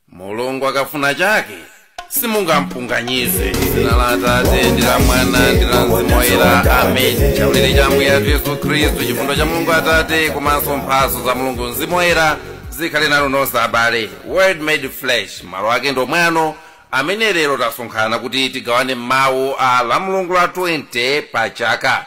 mulungu akafuna chake simungampunganyize dzina la atate ndi la mwana ndi la mzimu woyera ameni chaulere cha ambuye athu yesu khristu chifundo cha mulungu atate komanso mphatso za mulungu mzimu woyera zikhale nanu nonse abale word made flesh malo ake ndi omwe ano amene lero tasonkhana kuti tigawane mawu a lamulungu la 20 pa chaka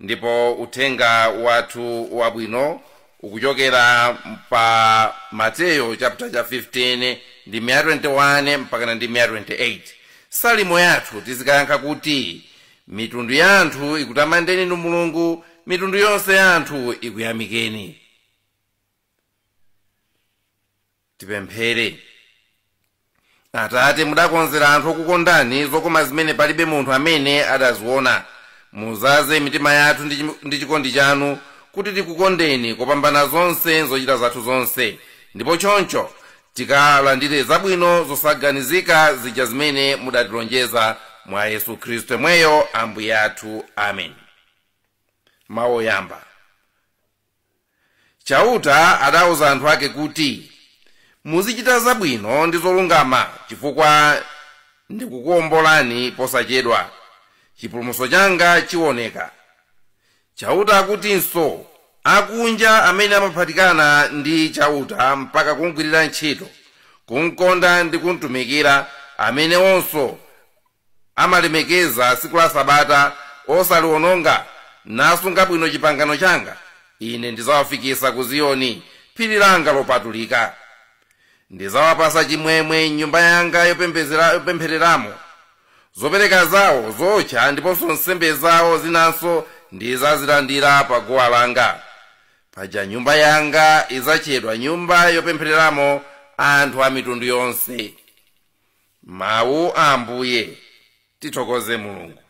ndipo uthenga wathu wabwino ukuchokera pa mateyo chapter cha 15 ndime ya 21 mpakana ndime ya 28 salimo yathu tizikayankha kuti mitundu ya anthu ikutamandeni inu mulungu mitundu yonse ya anthu ikuyamikeni tipemphere atate mudakonzera anthu okukondani zokoma zimene palibe munthu amene adaziona mudzaze mitima yathu ndi chim- ndi chikondi chanu kuti tikukondeni kopambana zonse m'zochita zathu zonse ndipo choncho tikalandire zabwino zosaganizika zija zimene mudatilonjeza mwa yesu khristu yemweyo ambuye athu amen mawu oyamba chauta adauza anthu ake kuti muzichita zabwino ndi zolungama chifukwa ndidzakuombolani posachedwa chipulumutso changa chiwoneka chauta akutinso akunja amene amaphatikana ndi chauta mpaka kumgwirira ntchito kumkonda ndi kumtumikira amenewonso amalemekeza tsiku la Sabata, osaliwononga, nasunga bwino chipangano changa, ine ndidzawafikitsa ku Ziyoni, phiri langa lopatulika. Ndidzawapatsa chimwemwe m'nyumba yanga yopembezera- yopemphereramo. Zopereka zawo zowotcha ndiponso nsembe zawo zinanso ndidzazilandira pa guwa langa. Paja nyumba yanga idzatchedwa nyumba yopemphereramo anthu a mitundu yonse. mawu a ambuye tithokoze mulungu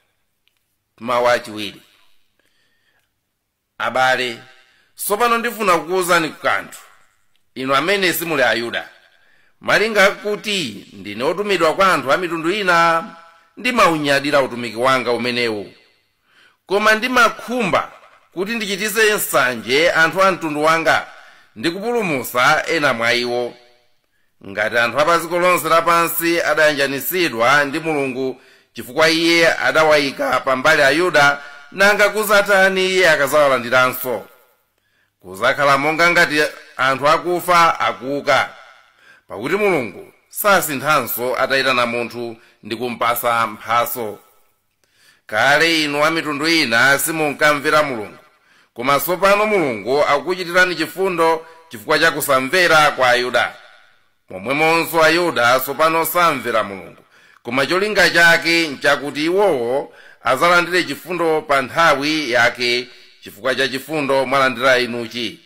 mawu achiwiri abale tsopano ndifuna kukuwuzani kanthu inu amene simuli ayuda malinga kuti ndine otumidwa kwa anthu a mitundu ina ndimaunyadira utumiki wangawu umenewu koma ndimakhumba kuti ndichitise nsanje anthu a mtundu wanga ndi kupulumutsa ena mwa iwo ngati anthu apadziko lonse lapansi adayanjanitsidwa ndi mulungu chifukwa iye adawayika pambali ayuda nanga kudzatani iye akadzawalandiranso kudzakhala monga ngati anthu akufa akuuka pakuti mulungu sasinthanso atayitana munthu ndi kumpatsa mphatso kale inu wa mitundu ina simunkamvera mulungu koma tsopano mulungu akukuchitirani chifundo chifukwa cha kusamvera kwa ayuda momwemonso ayuda tsopano samvera mulungu koma cholinga chake nchakuti iwowo adzalandire chifundo pa nthawi yake chifukwa cha chifundo mwalandira inuchi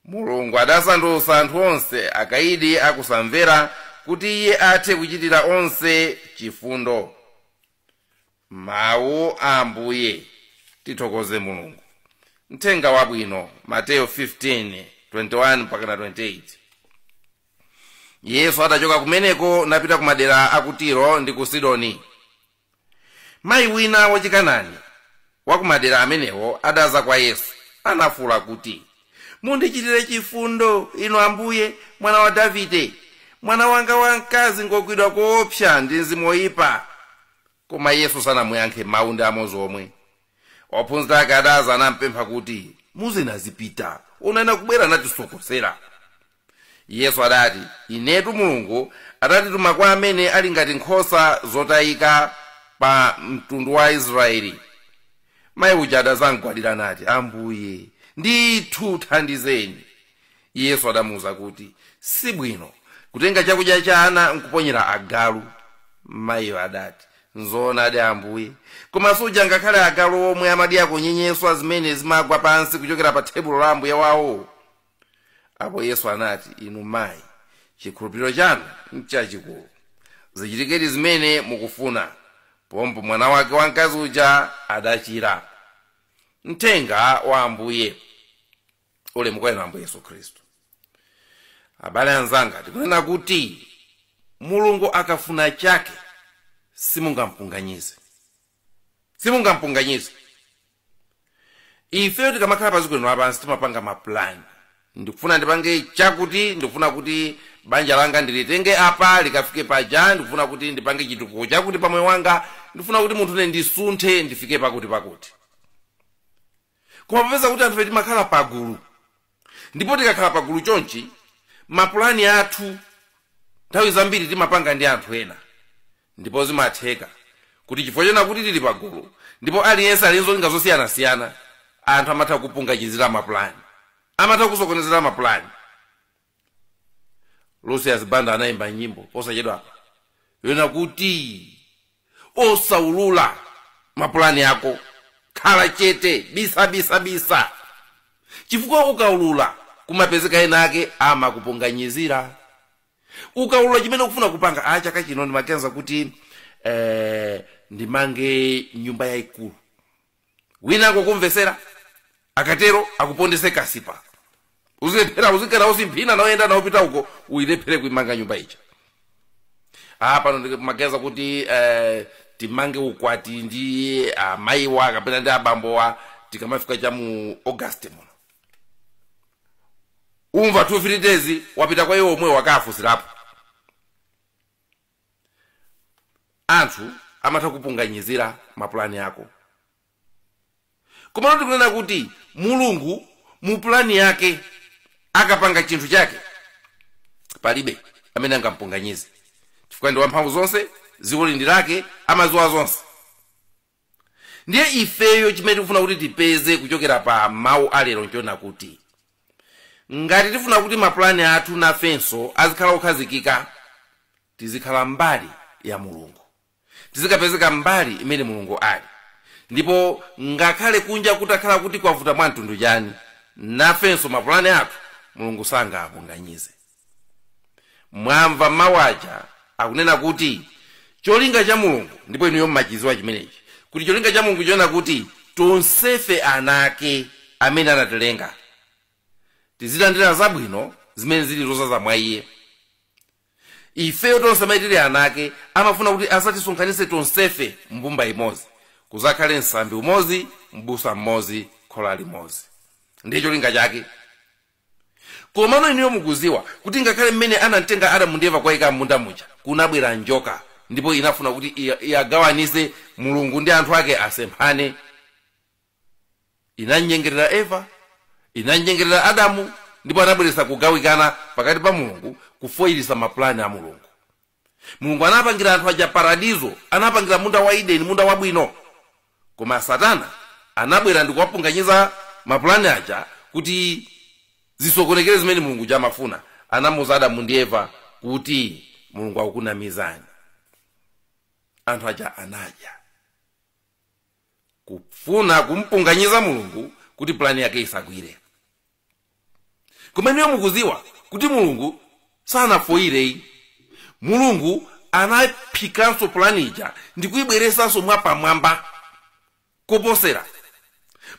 mulungu adasandutsa anthu onse akaidi akusamvera kuti iye athe kuchitira onse chifundo mawu a ambuye tithokoze mulungu mthenga wabwino mateyo 15 21 mpaka na 28 yesu adachoka kumeneko napita ku madera a ku tiro ndi ku sidoni mayi wina wachikanani wa kumadera amenewo adadza kwa yesu nafuula kuti mundichitire chifundo inu ambuye mwana wa davide mwana wanga wamkazi ngogwidwa koopsa ndi mzimu woyipa koma yesu sanamuyankhe mawu ndi amodzi omwe ophunzira ake adadza nampempha kuti muuzeni azipita onani akubwera natisokosera Yesu adati, Inetu Mulungu adandituma kwa amene ali ngati nkhosa zotayika pa mtundu wa Israeli. Mayi uja adadzamgwadira nati, Ambuye, ndithu thandizeni. Yesu adamuuza kuti, Si bwino kutenga chakudya cha ana nkuponyera agalu. Mayiyo adati, Nzoonadi Ambuye, koma suja ngakhale agalu omwe amadyako nyenyeswa zimene zimagwa pansi kuchokera pa thebulo la ambuye wawo? apo yesu anati inu mayi chikhulupiriro chanu nchachikulu zichitikedi zimene mukufuna pompo mwana wake wamkazi uja adachira mthenga wa ambuye ulemu kwa inu ambuye yesu khristu abale anzanga tikunena kuti mulungu akafuna chake simungampunganyize simungampunganyize ifeyo tikamakhala padziko lino lapansi timapanga mapulani ndikufuna ndipange chakuti ndikufuna kuti banja langa ndilitenge apa likafike paja ndikufuna kuti ndipange chitukuko chakuti pamoyo wanga ndikufuna kuti munthune ndisunthe ndifike pakuti pakuti koma popeza kuti anthufe timakhala pagulu ndipo tikakhala pagulu chonchi mapulani athu nthawi zambiri timapanga ndi anthu ena ndipo zimatheka kuti chifukwa chonena kuti tili pagulu ndipo aliyense ali ndi zolinga zosiyanasiyana anthu amatha kupungachizira mapulani amatha kusokonezera mapulani lucius banda anayimba nyimbo posachedwapa yonena kuti osaulula mapulani ako khala chete bisa bisa bisa chifukwa ukaulula kumapezeka ena ake amakupunganyizira ukaulula chimene ukufuna kupanga a chaka chino ndimaganiza kuti ndimange nyumba yayikulu wina angokumvesera akatero akupondese kasipa uzilephera uzikanaona simphina naoyenda naopita uko uyilephere kuimanga nyumba ija ah pano ndimaganiza kuti eh, timange ukwati ndi amayiwa kapena ndi abambowa tikamafika cha mu august muno umva 2 3 days wapita kwa iwo omwe wakafunsirapo anthu amatha kupunganyizira mapulani ako komano tikunena kuti mulungu mu pulani yake akapanga chinthu chake palibe amene angampunganyize chifukwa ndi wamphamvu zonse dziko ili ndi lake amadziwa zonse ndiye ifeyo chimene tikufuna kuti tipeze kuchokera pa mawu alero nchonena kuti ngati tifuna kuti mapulani athu nafenso azikhala okhazikika tizikhala mbali ya mulungu tizikapezeka mbali imene mulungu ali ndipo ngakhale kunja kutakhala kuti kwavuta mwa mtundu chani nafenso mapulani athu mulungu sangawapunganyize mwamva mawu aja akunena kuti cholinga cha mulungu ndipo inuyo mmachidziwa chimenechi kuti cholinga cha mulungu chonena kuti tonsefe ana ake amene anatilenga tizilandira zabwino zimene zili zozaza mwa iye ifeyo tonse amene tili ana ake amafuna kuti adzatisonkhanitse tonsefe mbumba imodzi kuzakhale msambi umodzi mbusa mmodzi khola limodzi ndiye cholinga chake komano inuyo mukuziwa kuti ngakhale mmene anamlenga adamu ndi eva kuwayika m'munda muja kunabwera njoka ndipo inafuna kuti iya- iyagawanise mulungu ndi anthu ake asemphane inamnyengerera eva inamnyengerera adamu ndipo anabweretsa kugawikana pakati pa mulungu kufoyirisa mapulani a mulungu mulungu anapangira anthu aja paradizo anapangira munda wa ideni munda wabwino koma satana anabwera ndikuwapunganyiza mapulani aja kuti zisokonekere zimene mulungu uja amafuna anamuza adamu ndi eva kuti mulungu akukunamizani anthu aja anadya kufuna kumpunganyiza mulungu kuti pulani yake isagwire koma inuyo mukuziwa kuti mulungu sanafoyireyi mulungu anaphikanso pulani ija ndikuyibweresanso mwapamwamba koposera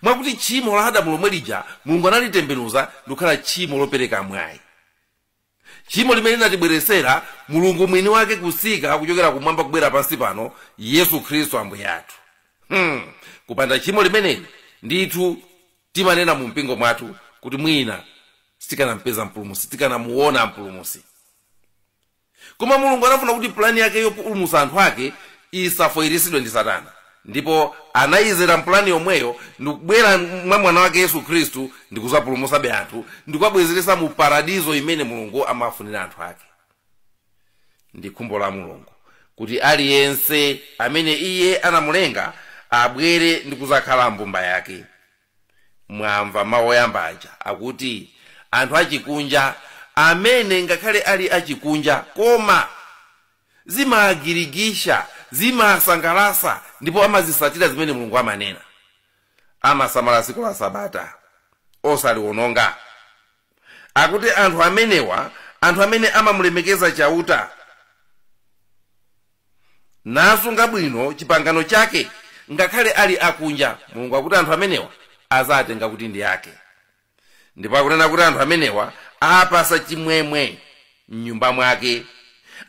mwakuti tchimo la adamu lomwe lija mulungu analitembenuza ndikukhala tchimo lopereka mwayi tchimo limene linatibweretsera mulungu mwini wake kutsika kuchokera kumwamba kubwera pansi pano yesu khristu ambuye athu hmm. kupanda tchimo limeneli ndithu timanena mu mpingo mwathu kuti mwina sitikanampeza mpulumusi sitikanamuona mpulumusi koma mulungu anafuna kuti pulani yake yopulumusa anthu ake isafoyirisidwe ndi satana ndipo anayizera mu pulani yomweyo ndikubwera mwa mwana wake yesu khristu ndikuzapulumusabe anthu ndikuwabwezeresa mu paradizo imene mulungu amafunira anthu ake ndi khumbo la mulungu kuti aliyense amene iye anamulenga abwere ndikuzakhala mbumba yake mwamva mawu oyamba aja akuti anthu achikunja amene ngakhale ali achikunja koma zimawagirigisha zimawasangalasa ndipo amazisatira zimene mulungu amanena amasamala tsiku la sabata osaliwononga akuti anthu amenewa anthu amene amamulemekeza chauta nasunga bwino chipangano chake ngakhale ali akunja mulungu akuti anthu amenewa azawatenga kuti ndi ake ndipo akunena kuti anthu amenewa awapasa chimwemwe m'nyumba mwake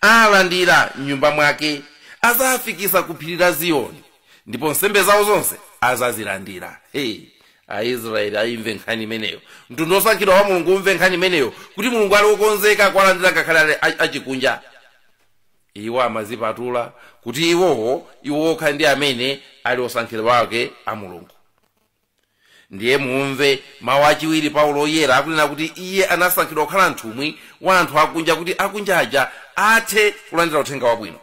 awalandira m'nyumba mwake azawafikisa ku phiri la ziyoni ndipo nsembe zawo zonse azazilandira hey aisraeli aimve nkhani imeneyo mtundu osankhidwa wa mulungu umve nkhani imeneyo kuti mulungu ali wokonzeka kuwalandira ngakhale ali a- achikunja iwo amazipatula kuti iwowo iwo okha ndi amene ali osankhidwa ake a mulungu ndiye mumve mawu achiwiri paulo oyera akunena kuti iye anasankhidwa kukhala mtumwi wa anthu akunja kuti akunja aja athe kulandira uthenga wabwino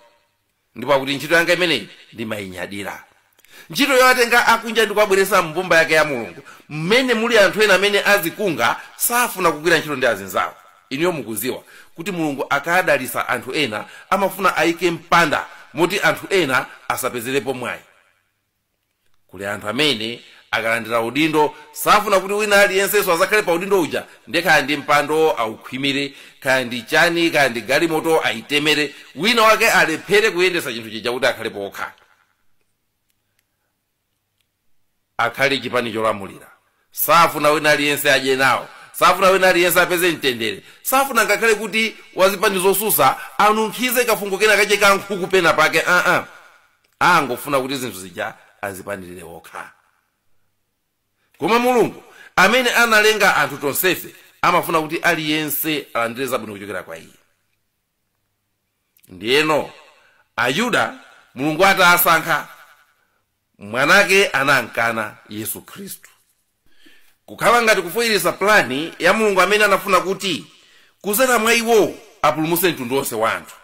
ndipo akuti ntchito yanga imeneyi ndimayinyadira ntchito yowatenga akunja ndi kuwabweretsa mbumba yake ya mulungu mmene muli anthu ena amene adzikonda safuna kugwira ntchito ndi azinzawo inuyo mukuziwa kuti mulungu akadalitsa anthu ena amafuna ayike mpanda moti anthu ena asapezerepo mwayi kuli anthu amene akalandira udindo safuna kuti wina aliyensenso azakhale pa udindo uja ndiye kaya ndi mpando aukhwimire kaya ndi chani kaya ndi galimoto ayitemere wina wake alephere kuyendetsa chinthu chija kuti akhale pokha akhale chipani cholamulira Safuna wina aliyense adye nawo. Safuna wina aliyense apeze mtendere. Safuna ngakhale kuti wazipani zosusa anunkhize kafungo kena kake ka nkhuku pena pake aa. Angofuna kuti zinthu zija azipanirire wokha. Koma Mulungu amene analenga anthu tonsefe amafuna kuti aliyense alandire zabwino kuchokera kwa iye. Ndiyeno Ayuda Mulungu atasankha mwanake anamkana yesu khristu kukhala ngati kufoyeresa pulani ya mulungu amene anafuna kuti kuzera mwa iwowo apulumuse mtundu wonse wa anthu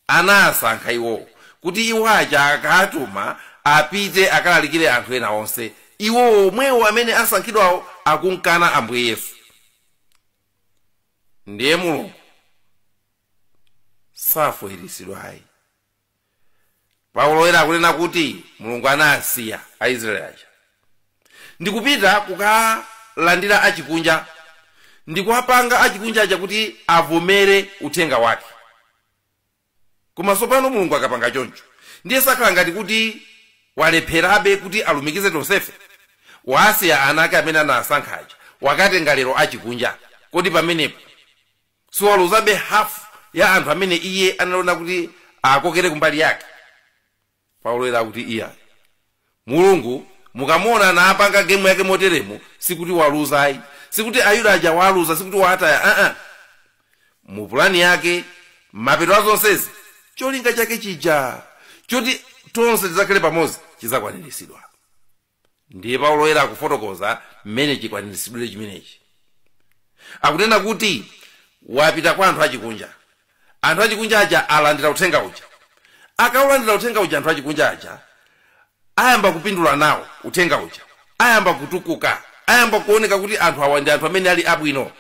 anasankha iwowo kuti iwo aja akatuma apite akalalikire anthu ena onse iwowo omwewo amene asankhidwawo akumkana ambuye yesu ndiye mulungu safoyeresedwa ayi paulo woyera akunena kuti mulungu anasiya aisraeli aja ndikupita kukalandira achikunja ndikuwapanga achikunja aja kuti avomere uthenga wake koma tsopano mulungu akapanga choncho ndiye sakhala ngati kuti walepherabe kuti alumikize tonsefe wasiya ana ake amene anasankha aja wakatenga lero achikunja kodi pamenepo siwaluzabe hafu ya anthu amene iye analona kuti akokere kumbali yake paulo woyera akuti iya mulungu mukamuona akupanga gemu yake moteremo sikuti waluza ayi sikuti ayuda aja waluza sikuti waataya aa mu pulani yake mapeto a zonsezi cholinga chake chija choti tonse tidzakhale pamodzi chidzakwaniritsidwa ndiye paulo woyera akufotokoza mmene chikwaniritsidwire chimenechi akunena kuti wapita kwa anthu achikunja anthu achikunja aja alandira uthenga uja akaulandira uthenga uja anthu achikunja aja ayamba kupindula nawo uthenga uja ayamba kutukuka ayamba kuoneka kuti anthu awa ndi anthu amene ali abwino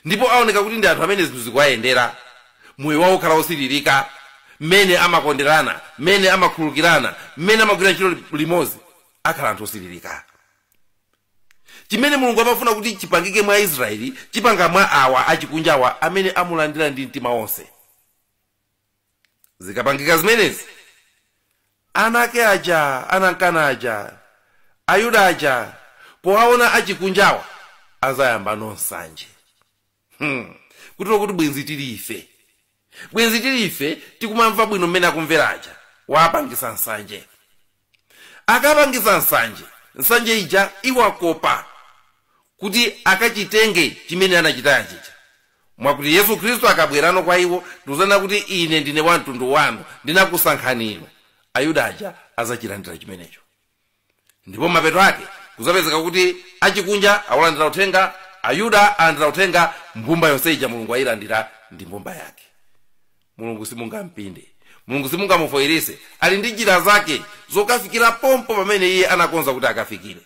ndipo aoneka kuti ndi anthu amene zinthu zikuwayendera moyo wawo ukhala wosiririka mmene amakonderana mmene amakhululukirana mmene amagwira ntchito limodzi akhala anthu osiririka chimene mulungu amafuna kuti chipangike mwa israeli chipanga mwa awa achikunjawa amene amulandira ndi mtima wonse zikapangika zimenezi ana ake aja anamkana aja ayuda aja powaona achikunjawa azayamba nsanje hmm. kutero kuti bwenzi tili ife bwenzi tili ife tikumamva bwino mmene akumvera aja wapangisa nsanje akapangisa nsanje nsanje ija iwakopa kuti akachitenge chimene anachitaya chija mwakuti yesu khristu akabwerano kwa iwo ndikuzanena kuti ine ndine wa mtundu wanu ndinakusankhani inu ayuda aja azachilandira chimenecho ndipo mmapeto ake kuzapezeka kuti achikunja awulandira uthenga ayuda alandira uthenga mbumba yonse ija mulungu ayilandira ndi mbumba yake mulungu simungampinde mulungu simungamufoyirise ali ndi njira zake zokafikira pompo pamene iye anakonza kuti akafikire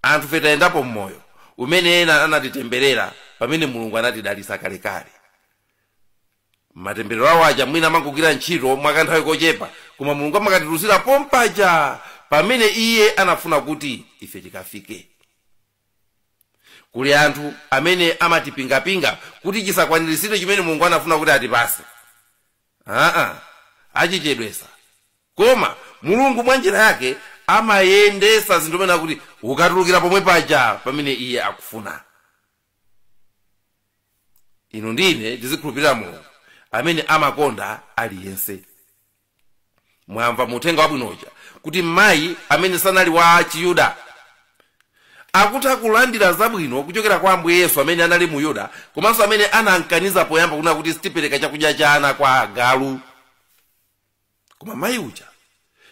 anthu fe tayendapo mmoyo umene ena anatitemberera pamene mulungu anatidalitsa kalekale matemberero awo aja mwina amangogwira ntchito mwakanthawi kochepa koma mulungu amakatitulusira pompaja pamene iye anafuna kuti ife tikafike kuli anthu amene amatipingapinga kuti chisakwaniritsidwe chimene mulungu anafuna kuti atipase aa achichedwesa koma mulungu mwa njira yake amayendesa zinthu penanso kuti ukatulukira pomwe paja pamene iye akufuna inu ndine tizikhulupirira mulungu amene amakonda aliyense mwamva mu uthenga wabwino uja kuti mayi amene sanali wa chiyuda akutha kulandira zabwino kuchokera kwa ambuye yesu amene anali muyuda komanso amene anamkaniza poyamba kuna kuti sitipereka chakudya cha ana kwa agalu koma mayi uja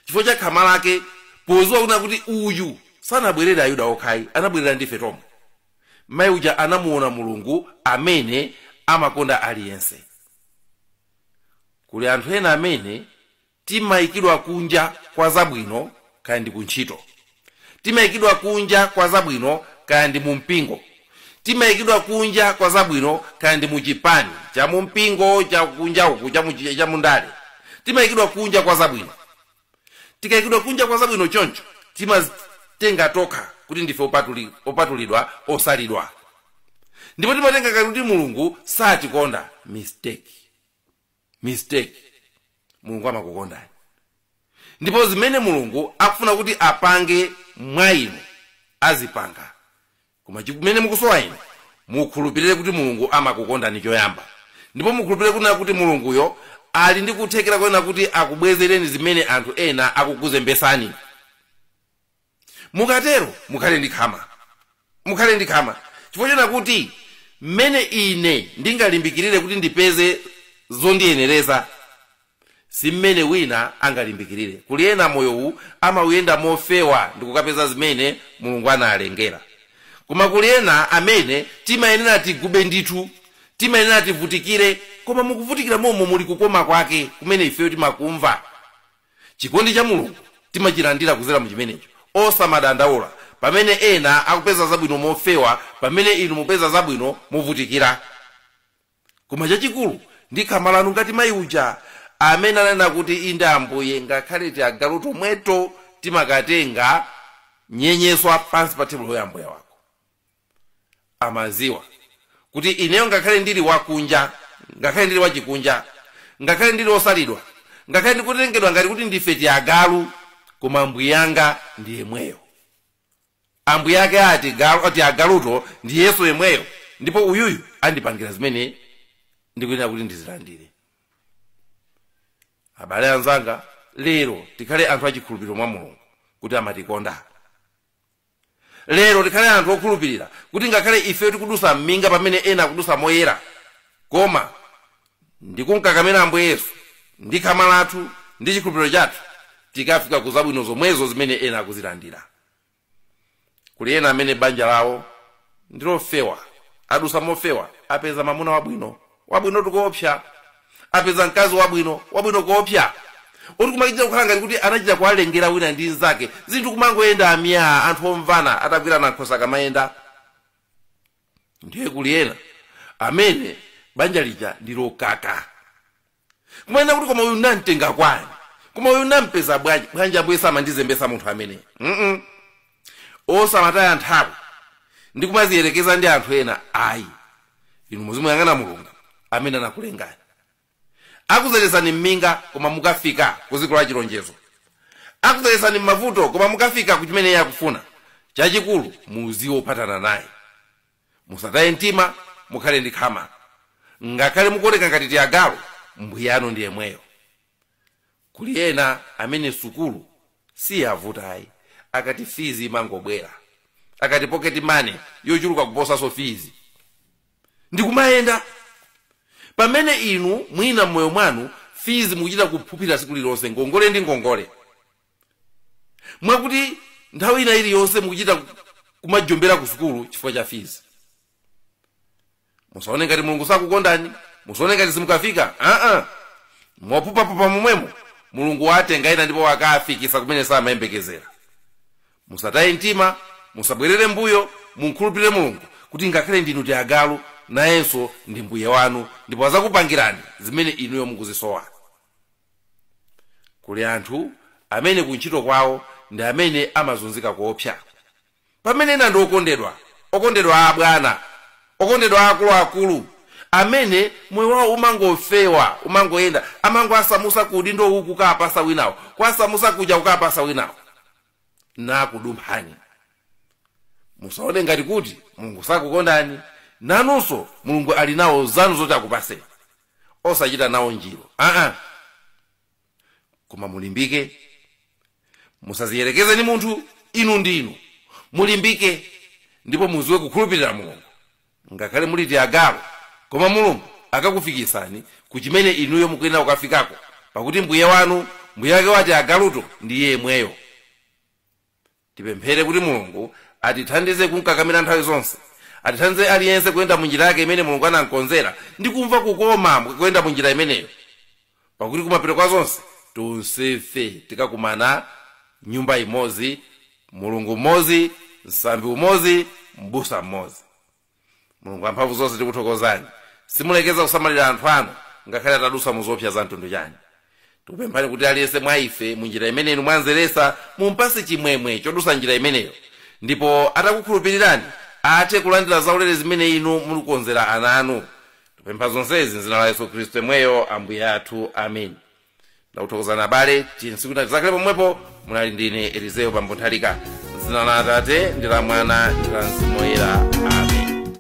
chifukwa cha khama lake poziwa kuna kuti uyu sanabwerere ayuda okhayi anabwerera ndife tomwe mayi uja anamuona mulungu amene amakonda aliyense kuli anthu ena amene timayikidwa kunja kwa zabwino kaya ndi kuntchito timayikidwa kunja kwa zabwino kaya ndi mumpingo timayikidwa kunja kwa zabwino kaya ndi muchipani cha mumpingo cha kunja uku cha muchi- cha mundale timayikidwa kunja kwa zabwino tikaikidwa kunja kwa zabwino choncho timatenga tokha kuti ndife opatuli- opatulidwa osalidwa ndipo timatenga ngati kuti mulungu satikonda mistake mistake mulungu amakukondani ndipo zimene mulungu akufuna kuti apange mwa inu azipanga koma chimene mukusowa inu mukhulupirire kuti mulungu amakukondani choyamba ndipo mukhulupirire kunena kuti mulunguyo ali ndi kuthekera konena kuti akubwezereni zimene anthu ena akukuzembesani mukatero mukhale ndi khama mukhale ndi khama chifukwa chonena kuti mmene ine ndingalimbikirire kuti ndipeze zondiyenereza si mmene wina angalimbikirire kuli ena moyowu amauyenda mofewa ndikukapeza zimene mulungu analengera koma kuli ena amene timayenera tigube ndithu timayenera tivutikire koma mukuvutikira momo muli kukoma kwake kumene ifeyo timakumva chikondi cha mulungu timachilandira kuzera mu chimenecho osamadandaula pamene ena akupeza zabwino mofewa pamene inu mupeza zabwino movutikira Koma chachikulu ndi khama lanu ngati mayi uja amene ananena kuti, Inde Ambuye, ngakhale tiagalu tomweto timakatenga nyenyeswa pansi pa thebulo ya Ambuye wako. Amadziwa kuti ineyo ngakhale ndili wakunja, ngakhale ndili wachikunja, ngakhale ndili wosalidwa, ngakhale ndikutengedwa ngati kuti ndife tiagalu, koma Ambuye anga ndi yemweyo. ambuye ake a tiagaluto ndi yesu yemweyo ndipo uyuyu andipangira zimene ndikuyenera kuti ndizilandire abale anzanga lero tikhale anthu achikhulupiriro mwa mulungu kuti amatikonda lero tikhale anthu okhulupirira kuti ngakhale ife tikudusa m'minga pamene ena akudusa moyera koma ndikunkakamira ambuye yesu ndi khama lathu ndi chikhulupiriro chathu tikafika ku zabwino zomwezo zimene ena akuzilandira kuli ena amene banja lawo ndilofewa adusa mofewa apeza mamuna wabwino wabwino kuopsa apeza mkazi wabwino wabwino kuopsa oti kumachita kukhala ngati kuti anachita kuwalengera wina ndi mnzake zinthu kumangoyenda myaa anthu omvana atagwirana nkhwapa kamayenda ndiye kuli ena amene banja lija ndilokaka Kumanena kuti koma uyu nam'tenga kwani? Koma uyu nampeza bwanji? Bwanji Ambuye samandizembesa munthu amene? Mhm. Osamataya nthawi ndi kumaziyerekeza ndi anthu ena ayi. Inu muzimuyang'ana Mulungu amene anakulengani. Akuzerezani mminga koma mukafika kuziko la chilonjezo. Akuzerezani mmavuto koma mukafika ku chimene iye akufuna. Chachikulu muziphathana naye. musataye mtima mukhale ndi khama ngakhale mukuoneka ngati tiagalu mbuyanu ndi yemweyo kuli ena amene sukulu siyavuta ayi akati fizi imangobwera akati pocket money yochuluka kuposanso fizi ndikumayenda pamene inu mwina mmoyo mwanu fizi mukuchita kupuphira siku lililonse ngongole ndi ngongole mwakuti nthawi ina iliyonse mukuchita ku- kumajombera ku sukulu chifukwa cha fizi musaone ngati mulungu sakukondani musaone ngati simukafika aa mophuphaphupha momwemo mulungu watenga ena ndipo wakafikisa kumene samayembekezera musataye mtima musabwerere mbuyo mumkhulupirire mulungu kuti ngakhale ndinu tiagalu nayenso ndi mbuye wanu ndipo azakupangirani zimene inuyo mukuzisowa kuli anthu amene kuntchito kwawo ndi amene amazunzika koopsa pamene ena ndi okondedwa okondedwa a abwana okondedwa a akuluakulu amene moyo wawo umangofewa umangoyenda amangoasamusa ku udindo uwu kukapasa wina uwo kuasamusa kuja kukapasa winawo nakudumphani musaone ngati kuti mulungu sakukondani nanunso mulungu ali nawo zanu zoti akupaseni osachita nawo njiru aa koma mulimbike musaziyerekeze ndi munthu inu ndi inu mulimbike ndipo muziwe kukhulupirira mulungu ngakhale muli ndi agalu koma mulungu akakufikitsani ku chimene inuyo mukuyenera kukafikako pakuti mbuye wanu mbuye wake wati agaluto ndi iye yemweyo tipemphere kuti mulungu atithandize kumkakamira nthawi zonse atithandize aliyense kuyenda mu njira yake imene mulungu anamkonzera ndi kumva kukoma kuyenda mu njira imeneyo pakuti kumapeto kwa zonse tonsefe tikakumana nyumba imodzi mulungu mmodzi msambi umodzi mbusa mmodzi mulungu amphamvu zonse tikuthokozani simulekeza kusamalira anthu anu ngakhale atadutsa mu zoopsa za mtundu chani tikupemphani kuti aliyense mwa ife mu njira imene inu mwanzeresa mumpase chimwemwe chodusa njira imeneyo ndipo atakukhulupirirani athe kulandira zaulere zimene inu muikonzera ana anu tipempha zonsezi mzina la yesu khristu yemweyo ambuye athu amen ndakuthokozani abale tsinzi kuti zidzakhale pomwepo munali ndine elizeyo bambo nthalika dzina la atate ndi la mwana ndi la mzimu woyera amen